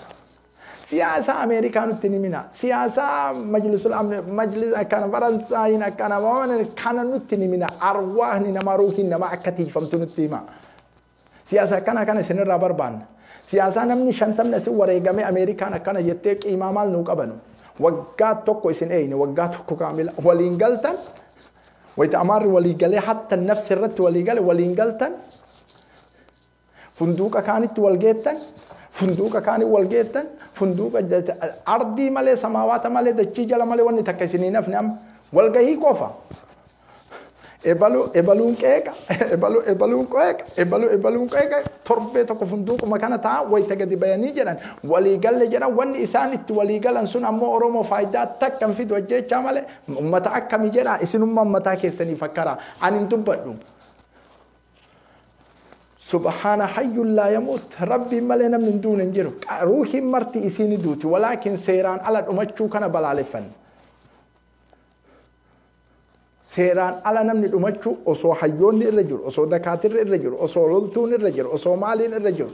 Siyaasaa Ameerikaa nutti hin himinaa. Siyaasaa majlisul amne majlis akkana Faransaayiin akkana kana nutti hin himinaa. Arwaahni namaa ruuhiin namaa akka tiikfamtu nutti himaa. Siyaasa akkanaa kana isin irraa barbaanna. Siyaasaa namni shantamni asi wareegamee Ameerikaan akkana jettee qiimaa maal nuu qabanu. Waggaa tokko isin eeyne waggaa tokko kaamila waliin galtan wayita amaarri walii galee hattan nafsi irratti walii gale waliin galtan funduuqa kaanitti wal geettan funduuqa kaanii wal geettan funduuqa ardii malee samaawaata malee dachii jala malee wanni takka isin hin hafne amma walgahii qofa Ebalu ebaluun qeeqa ebalu ebaluun qeeqa ebalu ebaluun qeeqa torbee tokko funduuquma kana ta'an wayita gadi bayanii jedhan walii galle jedhan wanni isaan itti walii galan sun ammoo Oromoo faayidaa takka hin fidu ajjeechaa malee ummata akkami jedha isinummaa ummataa keessanii fakkara ani hin dubbadhu. Subhaana hayyuun laa yamuut rabbiin malee namni hin duune hin jiru ruuhiin marti isiin duuti walaakin seeraan ala dhumachuu kana balaaleffanna. Seeraan ala namni dhumachuu osoo hayyoonni irra jiru, osoo dakaatirri irra jiru, osoo loltuun irra jiru, osoo maaliin irra jiru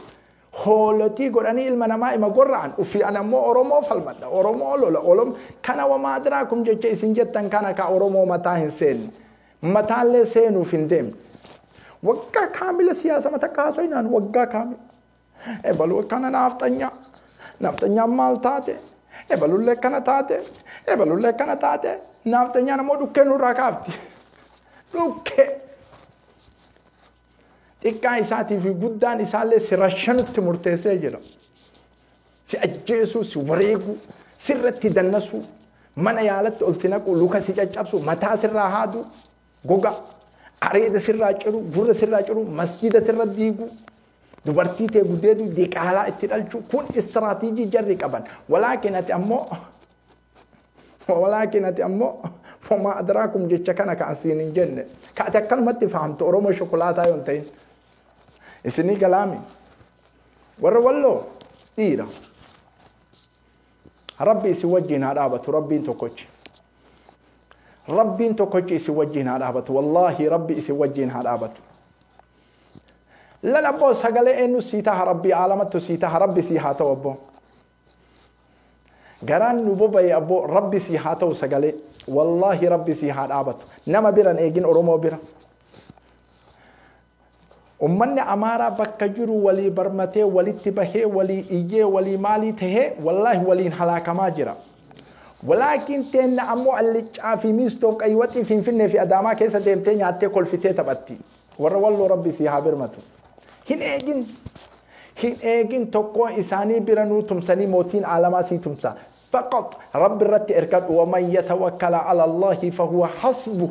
hoolotii godhanii ilma namaa ima gorra'an ufii an ammoo Oromoo falmadha, Oromoo lola, Olom kana wamaa adraakum jecha isin jettan kana ka Oromoo mataa hin seenne. Mataallee seenuuf hin deemne. Waggaa kaamila siyaasama takka haasoyinaan waggaa kaamila. Ebalu akkana naafxanya. Naafxanyaan maal taate? Ebalullee akkana taate. Ebalullee akkana taate. Naafxanyaan ammoo dhukkee nurraa kaafti. Dhukkee. Xiqqaa isaatii fi guddaan isaallee si rashanutti murteessee jira. Si ajjeesuu, si wareeguu, sirratti dannasuu, mana yaalatti ol si naquu, luka si caccabsuu, mataa sirraa haaduu. goga areeda sirraa ciru gurra sirraa ciru masjida sirra diigu dubartii tee gudeedu diqaalaa itti dhalchu kun istiraatiijii jarri qaban walaakin ati ammoo walaakin ati ammoo homaa adraakum jecha kana ka asiin hin jenne ka ati akkanumatti fahamtu oromoo shokolaataa yoon ta'in isinii galaami warra walloo dhiira Rabbi isin wajjiin haa dhaabatu rabbiin tokkochi. Rabbiin tokkochi isin wajjiin haa dhaabatu wallaahi rabbi isin wajjiin haa dhaabatu. Lala abboo sagalee eenyu sii taha rabbi aalamattu sii taha rabbi sii haa ta'u abboo. Garaan nu boba'e abboo rabbi sii haa ta'u sagalee wallaahi rabbi sii haa dhaabatu nama biran eegin oromoo bira. Ummanni Amaaraa bakka jiru walii barmatee, walitti bahee, walii iyyee, walii maalii tahee wallaahi waliin halaakamaa jira. Walaakiin teenna ammoo Alliccaa fi Miistoof Qayyiwaxii Finfinnee fi Adaamaa keessa deemtee nyaattee kolfitee taphatti. Warra Walloo Rabbi sii haa birmatu. Hin eegin! Hin eegin tokkoo isaanii biranuu tumsanii mootiin aalamaa sii tumsa. Faqat Rabbi irratti erkadhu. Waman yatawakkala ala Allaahi fahuwa hasbuh.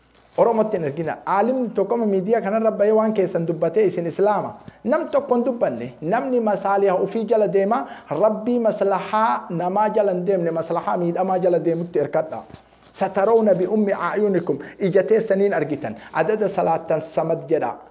Oromotti hin ergina. Aalimni tokko amma miidiyaa kanarra bahee waan keessan dubbatee isin Islaama. Nam tokko hin dubbanne. Namni masaaliha ufii jala deema, Rabbii maslahaa namaa jala hin deemne maslahaa miidhamaa jala deemutti irkadha. Satarawna bi'ummi a'yunikum ija teessaniin argitan. Adada salaattan samad jedhaa.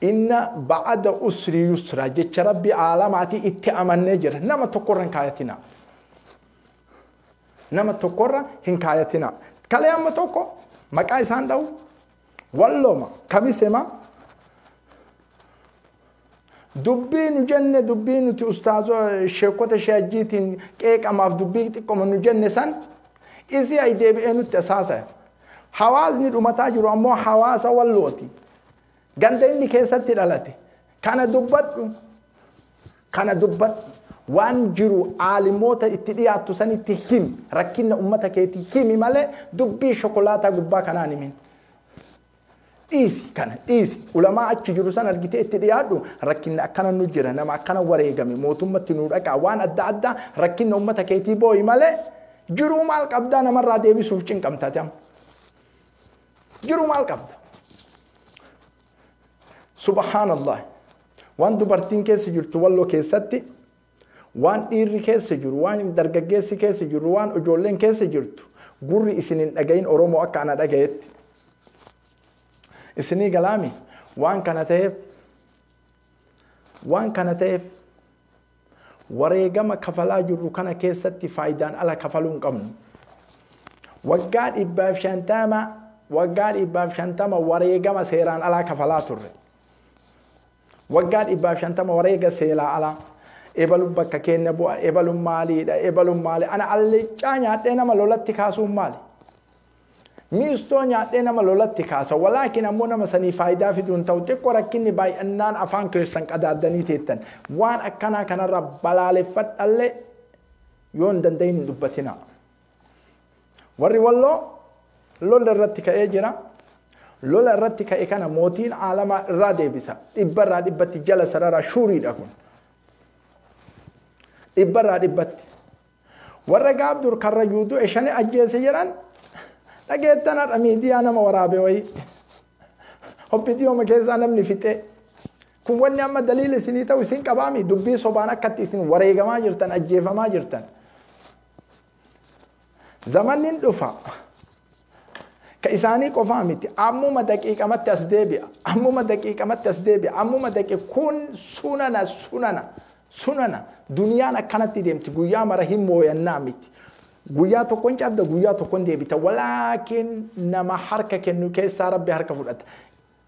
Inna ba'ada usri yusra jecha rabbi aalamaati itti amannee jirra nama tokkorra hin kaayatina nama tokkorra hin kaayatina kalee amma tokko maqaa isaan dha'u walloma kamisema dubbii nu jenne dubbii nuti ustaazoo sheekota sheejjiitiin qeeqamaaf dubbii xiqqoma nu jenne san isii ay deebi'ee nutti asaasaya Hawaasni dhumataa jiru ammoo hawaasa wallooti. Ganda inni keessatti dhalate. Kana dubbadhu. Kana dubbadhu. Waan jiru aalimoota itti dhiyaattu sanitti himi. Rakkina ummata keetii himi malee dubbii shokolaataa gubbaa kanaan himin. Dhiisi kana dhiisi ulamaa achi jiru san argitee itti dhiyaadhu rakkinni akkana nu jira nama akkana wareegame mootummatti nu dhaqaa waan adda addaa rakkinna ummata keetii booyi malee jiruu maal qabdaa namarraa deebisuuf cinqamtaati amma. Jiruu maal qabda? Subhaanallah waan dubartiin keessa jirtu walloo keessatti Waan dhiirri keessa jiru, waan dargaggeessi keessa jirru, waan ijoolleen keessa jirtu gurri isin hin dhagayin Oromoo akka ana dhagayetti. Isinii galaami? Waan kana ta'eef waan kana ta'eef wareegama kafalaa jirru kana keessatti faayidaan ala kafaluu hin qabnu. Waggaa dhibbaaf shantama waggaa dhibbaaf shantama wareegama seeraan alaa kafalaa turre. Waggaa dhibbaaf shantama wareega seelaa alaa. Ebalu bakka keenya bu'a, ebalu maaliidha, ebalu maali. Ana allicaa nyaadhee nama lolatti kaasuun maali? Miistoo nyaadhee nama lolatti kaasa. Walaakin ammoo nama sanii faayidaa fiduun ta'u xiqqoo rakkinni baay'annaan afaan keessan qadaaddanii teettan. Waan akkanaa kanarra balaaleffadhallee yoo hin danda'in hin dubbatinaa. Warri Walloo lola irratti ka'ee jira. Lola irratti ka'e kana mootiin aalamaa irraa deebisa. Dhibba irraa dhibbatti jala sararaa shuuriidha kun. Dhibba irraa dhibbatti. Warra gaabdur karra yuutuu eshanii ajjeese jedhan dhageettan har'a miidiyaa nama waraabe wayii. Hobbitiyooma keessaa namni fixee. Kun wanni amma daliila isinii ta'u isin qabaami dubbii sobaan akkatti isin wareegamaa jirtan ajjeefamaa jirtan. Zamanni hin dhufa. Ka isaanii qofaa miti. Ammuma daqiiqamatti as deebi'a. Ammuma daqiiqamatti as deebi'a. Ammuma daqi kun sunana sunana sunana duniyaan akkanatti deemti guyyaa mara hin mooyannaa miti. Guyyaa tokkon cabda guyyaa tokkon deebita. Walaakin nama harka kennu keessaa rabbi harka fudhata.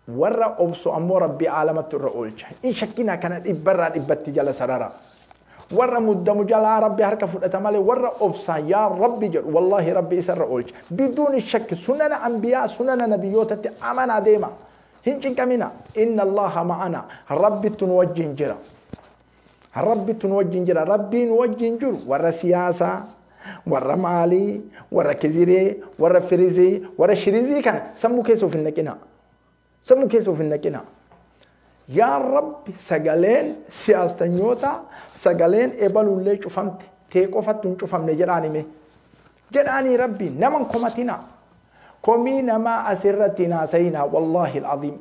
Warra obsu ammoo Rabbi aalamattu irra oolcha. Hin shakkinaa kana dhibba irraa dhibbatti jala sarara. Warra muddamu jalaa Rabbi harka fudhata malee warra obsaan yaa Rabbi jedhu wallaahi Rabbi isa irra oolcha. Biduuni shakki sunana anbiyaa sunana nabiyyootatti amanaa deema. Hin cinqaminaa. Inna Allaaha ma'anaa. Rabbittu nu wajjin jira. Rabbittu nu wajjin jira. Rabbii nu wajjin jiru warra siyaasaa, warra maalii, warra kiziree, warra firizee, warra shirizii kana sammuu keessa of hin naqina. Sammuu keessa of hin naqina. Yaa Rabbi sagaleen siyaastanyootaa sagaleen ebaluullee cufamte tee qofatti hin cufamne jedhaan himee. jedhaanii rabbiin nama hin komatinaa komii namaa asirratti hin haasayinaa wallaahi alcaziim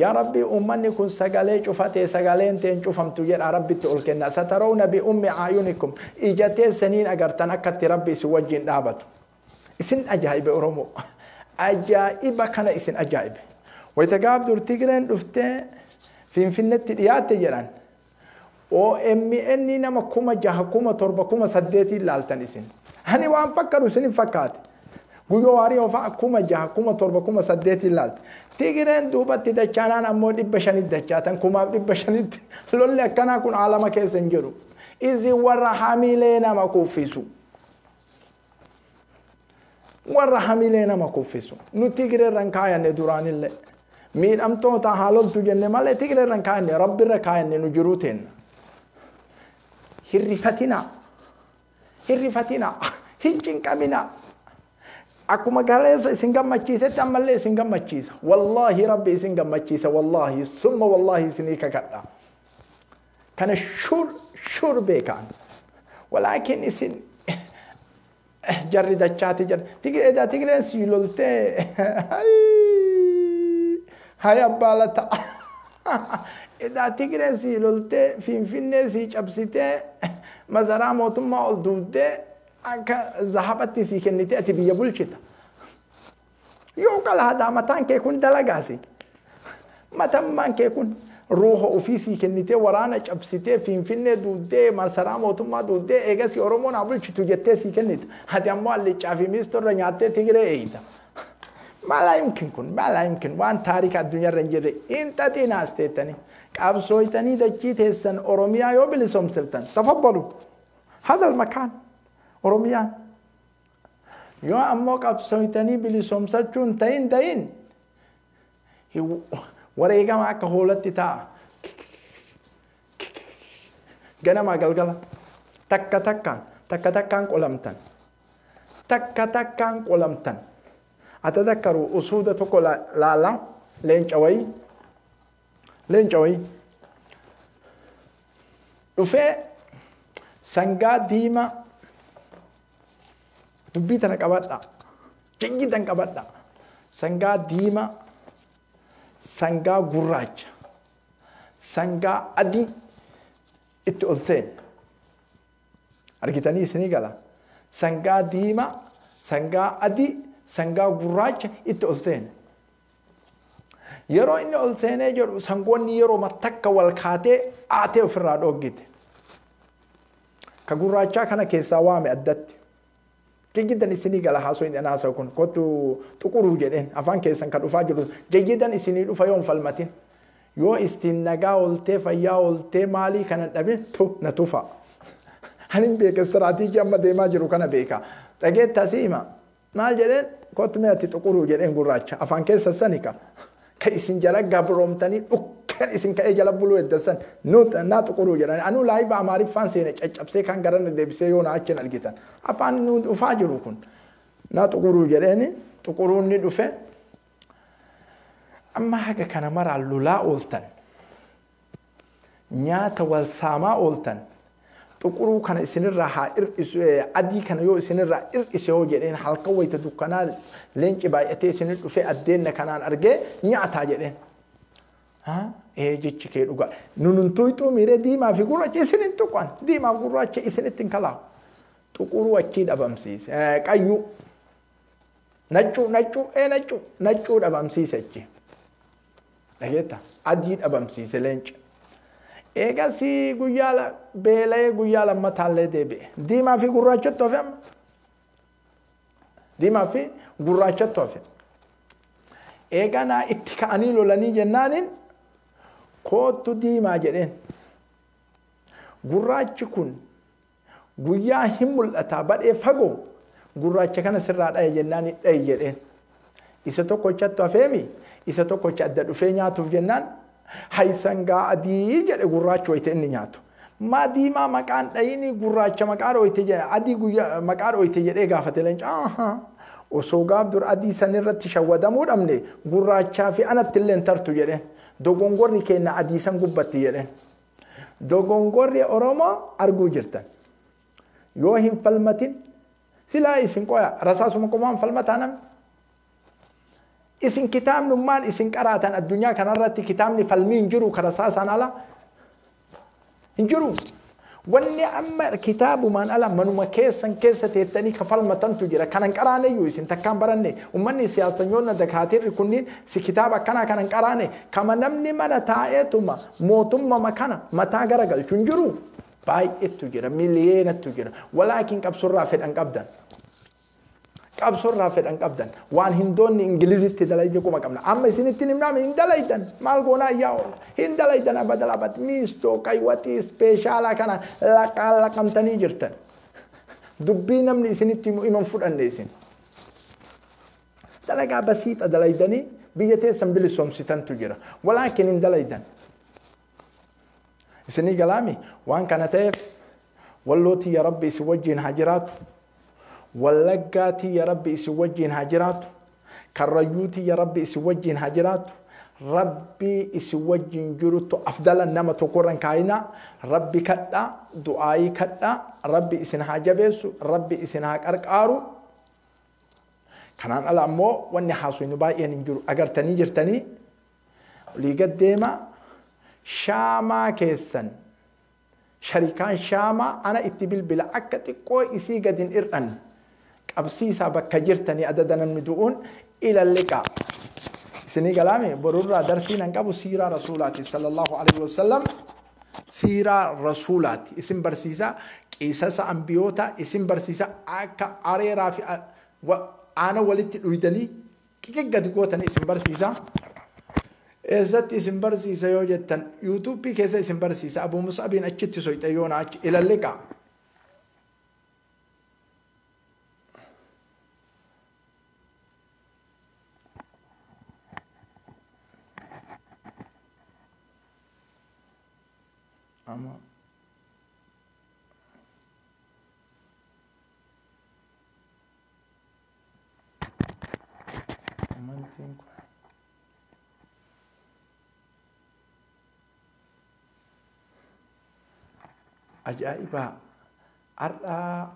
yaa rabbii ummanni kun sagalee cufatee sagaleen tee hin cufamtu jedhaa rabbitti ol kennaa satarawna bi ummi aayunikum ija teessaniin agartan akkatti rabbi isin wajjiin dhaabatu isin ajaa'ibe oromoo ajaa'iba kana isin ajaa'ibe wayita gaaf dur tigreen dhuftee finfinnetti dhiyaatte jedhan OMN nama kuma jaha kuma torba kuma saddeetiin laaltan isin. Ani waan fakkadu isin fakkaate. Guyyoo waariyoo fa'a kuma jaha kuma torba kuma saddeetiin laalte. Tigireen duubatti dachaanaan ammoo dhibba shanitti dachaatan kumaaf dhibba shanitti lolli akkanaa kun aalama keessa hin jiru. Isin warra hamilee nama kuffisu. warra hamilee nama kuffisu nu tigirerra hin kaayanne duraanillee miidhamtoota haa loltu jenne malee tigirerra hin kaayanne rabbirra kaayanne nu jiruu teenna hirrifatinaa hirrifatinaa hin cinqaminaa akkuma galeessa isin gammachiisetti ammallee isin gammachiisa wallaahi rabbi isin gammachiisa wallaahi summa wallaahi isinii kakadha Kana shur shur beekaan. Walaakin isin jarri dachaati jarri. Tigree da Tigreen si loltee. Hay abbaa lata. Edaa Tigreen si loltee Finfinnee si cabsitee masaraa mootummaa ol duuddee akka zahabatti si kennitee ati biyya bulchita. Yoo qalaadaa mataan kee kun dalagaasi. Matammaan kee kun ruuha ofii sii kennitee waraana cabsitee Finfinnee duuddee marsaraa mootummaa duuddee eegasii Oromoon haa bulchitu jettee sii kennita. Ati ammoo allichaa fi miistuu irra nyaattee Tigiree eeyita. Maalaa yumkin kun maalaa yumkin waan taarika addunyaa irra hin jirre hin xaxiina as teettanii qabsooytanii dachii teessan Oromiyaa yoo bilisoomsiftan tafaddalu hadal makaan Oromiyaan Yoo ammoo qabsooytanii bilisoomsachuu hin ta'in dayin wareegama akka hoolatti ta'a. Ganamaa galgala takka takkaan takka takkaan qolamtan. Takka takkaan qolamtan. Ata takkaru usuuda tokko laala leenca wayii. Leenca wayii. Dhufee sangaa diimaa Dubbii tana qabadha. Jiggi tan qabadha. Sangaa diimaa, sangaa gurraacha, sangaa adii itti ol seena. Argitanii isinii gala. Sangaa diimaa, sangaa adii, sangaa gurraacha itti ol seena. Yeroo inni ol seenee jedhu sangoonni yeroo takka wal kaatee aatee ofirraa dhooggite. Ka gurraachaa kana keessaa waame addatti. Jayyidan isinii gala haasoyin an haasawu kun kottu xuquruu jedheen afaan keessan ka dhufaa jiru jayyidan isinii dhufa yoon falmatin. Yoo istiin nagaa oltee fayyaa oltee maalii kanan dhabin tu na tufaa. Anin beeka istiraatiijii amma deemaa jiru kana beeka. Dhageetta si hima. Maal jedheen? Kottu mee ati xuquruu jedheen gurraacha. Afaan keessan sani ka. Ka isin jala gabroomtanii dhukkeen isin ka'ee jala buluu heddan san. Nu naa xuquruu jedhani. Anuu laayiba Amaariffaan seene caccabsee kaan garanna deebisee yoo naa achiin argitan. Afaan nu dhufaa jiru kun. Naa xuquruu jedheeni xuquruun ni dhufe. Amma haga kana maraan lolaa ooltan. Nyaata wal saamaa ooltan xuquruu kana isinirraa haa hir'isu adii kana yoo isinirraa hir'ise hoo jedheen halkan wayita dukkanaa leenci baay'atee isinir dhufee addeenna kanaan argee nyaataa jedheen. Ee jechi kee dhugaa nunun tuuxuu miiree diimaa fi gurraacha isin hin tuqan diimaa fi gurraacha isinitti hin kalaawu. Xuquruu achii dhabamsiise qayyuu naccuu naccuu ee naccuu naccuu dhabamsiise achi. Dhageetta? Adii dhabamsiise leenca. Eegasii guyyaa la- beela'ee guyyaa lammataallee deebi'e. Diimaa fi gurraachatti hafe amma. Diimaa fi gurraachatti hafe. Eeganaa itti ka'anii lolanii jennaaniin koottu diimaa jedheen. Gurraachi kun Guyyaa hin mul'ataa badhee fagoo gurraacha kana sirraa dhaya jennaan hin dhayi jedheen. Isa tokkochattu hafeemi isa tokkocha adda dhufee nyaatuuf jennaan hayi sangaa adii jedhe gurraachi wayita inni nyaatu. Maa diimaa maqaan dhayini gurraacha maqaa dhooyte jedhe adii guyyaa maqaa dhooyte jedhee gaafate leenca. Ahaa. Osoo gaaf dur adii san irratti shawwadamuu dhabne gurraachaa fi anatti illee hin tartu jedheen. Dogongorri keenna adii san gubbatti jedheen. Dogongorri Oromoo arguu jirtan. Yoo hin falmatin silaa isin qoya rasaasuma qomaan falmataa namni. Isin kitaabnummaan isin qaraatan addunyaa kanarratti kitaabni falmii hin jiru kan rasaasaan ala hin jiru. Wanni amma kitaabumaan ala manuma keessan keessa teettanii ka falmatantu jira. Kan hin qaraaneyyuu isin takkaan baranne. Uummanni siyaastanyoonni dakaatiirri kunniin si kitaaba akkanaa kan hin qaraane kama namni mana taa'eetuma Mootummama kana mataa gara galchu hin jiruu? Baay'eettu jira, miliyeenattu jira. Walaakin qabsorraa fedhan qabdan. Qabsorraa fedhan qabdan. Waan hindoonni Ingilizitti dalayde quma qabna. Amma isinittin himnaame hin dalaydan. Maal goonaa ayyaa oolla. Hin dalaydan abadala abad. Miistoo, qaywaxii, ispeeshaalaa kana laqaa laqamtanii jirtan. Dubbii namni isinitti himu iman fudhanne isin. Dalagaa basiixa dalaydanii biyya teessan bilisoomsitantu jira. Walaakin hin dalaydan. Isinii galaami waan kana ta'eef walloo tiyya rabbi isin wajjiin haa jiraatu. Wallaggaa tiyya rabbi isin wajjiin haa jiraatu. Karrayyuu tiyya rabbi isin wajjiin haa jiraatu. Rabbii isin wajjiin jiruttu afdala nama tokkorra hin kaayinaa. Rabbi kadhaa, du'aayii kadhaa, rabbi isin haa jabeessu, rabbi isin haa qarqaaru. Kanaan ala ammoo wanni haasofnu baay'een hin jiru. Agartanii jirtanii olii gad deemaa shaamaa keessan sharikaan shaamaa ana itti bilbila akka xiqqoo isii gad hin ir'anne qabsiisaa bakka jirtanii adada namni du'uun ilalliqaa. Isinii galaame borurraa darsii nan qabu siiraa rasuulaati sallallahu alaihi wasallam Siiraa Rasuulaati isin barsiisa, Qisasa Anbiyoota isin barsiisa, akka areeraa fi aana walitti dhuydanii xiqi gadi gootan isin barsiisa. Eessatti isin barsiisa yoo jettan YouTube keessa isin barsiisa, Abuu Mus'abiin achitti soyxe yoo na achi ilalliqa. Ama amantiin kun ajaa'ibaa har'aa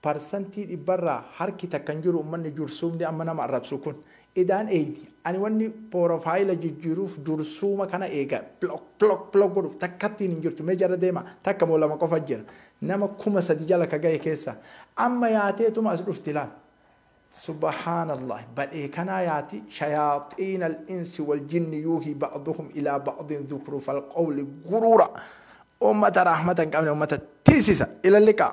Parsantii dhibba irraa harki takka hin jiru ummanni jursuumni amma nama arrabsu kun. Idaan eeydi. Ani wanni porofaayila jijjiiruuf jursuuma kana eega block block block godhuuf takkattiin hin jirtu mee jala deemaa takka moo lama qofa jira nama kuma sadi jala ka gahe keessa amma yaateetuma as dhufti laal subhaanallaah badhee kanaa yaati shayaaxiinal insi wal jinni yuuhii ba'duhum ilaa ba'din zukruufal qawli guruura ummata rahmata hin qabne ummata tiisisa ilalliqaa.